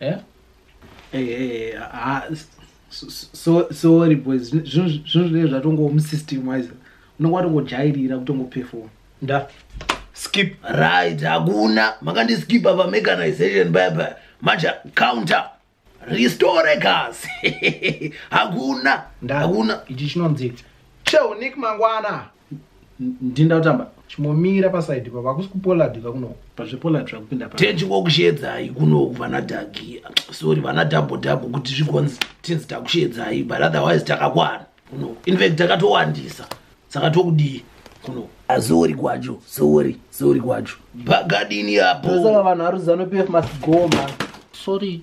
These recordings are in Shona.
Eh? Hey, eh, eh, hey, ah, so, sorry boys zvinhu zvinenge zvatongowo musystem wise unenge watongojairira kutongoperform nda skip right hakuna makandiskipa pamechanization baba manje counter restore gas hakuna ndakuna ichi chinonzi cheunik mangwana ndinda kutamba chimomira pasaidi pa vakusi kupoladi ka kuno pazvepoladi zvakupinda pa tenji ngokusheedzai kuno vana dagi sorry vana double double kuti zvigonzi tinzi takusheedzai but otherwise takakwana kuno in fact takatowandisa saka tokudii kuno azori kwacho sori sori kwacho pagadini apo saka vanhu aruzano pf must go man sorry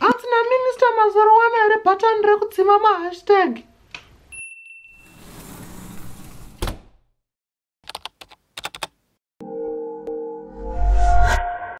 Hanzi naminista mazoro wana here bhatani rekudzima mahashtag?